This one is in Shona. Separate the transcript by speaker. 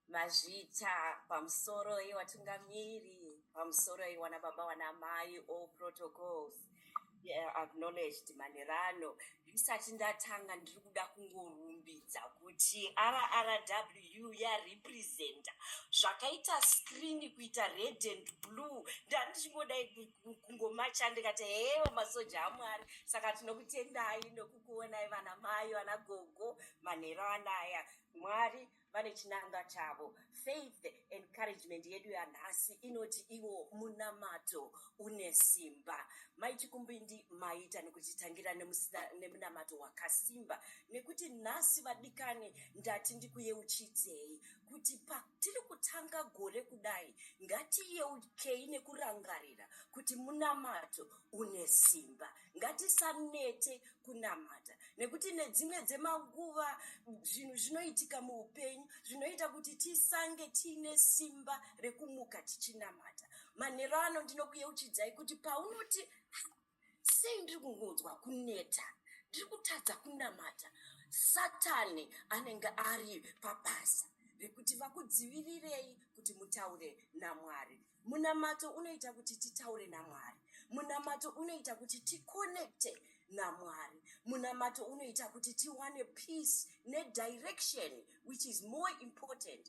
Speaker 1: mazvita pamusoro yevatungamiri pamusoro yewana baba wana mai all protocols acknowledged manherano ndisati ndatanga ndiri kuda kungorumbidza kuti rrw yarepresenta zvakaita screen kuita red and blue ndandichingodai kungomacha ndikati hewo masoja amwari saka tinokutendai nokukuonai vana mai vana gogo manhero anaya mwari vane chinangwa chavo faith encouragement yedu yanhasi inoti iwo munamato une simba mai chikumbindi maita nekutitangira nemunamato wakasimba nekuti nhasi vadikani ndati ndikuyeuchidzei kuti patiri kutanga gore kudai ngatiyeukei nekurangarira kuti munamato une simba ngatisanete kunamata nekuti nedzimwe dzemanguva zvinhu zvinoitika muupenyu zvinoita kuti tisange tiine simba rekumuka tichinamata manhero ano ndinokuyeuchidzai kuti paunoti sei ndiri kungonzwa kuneta ndiri kutadza kunamata satani anenge ari pabasa rekuti vakudzivirirei kuti mutaure namwari munamato unoita kuti titaure namwari munamato unoita kuti ticonnecte namwari munamato unoita kuti tiwane peace nedirection which is more important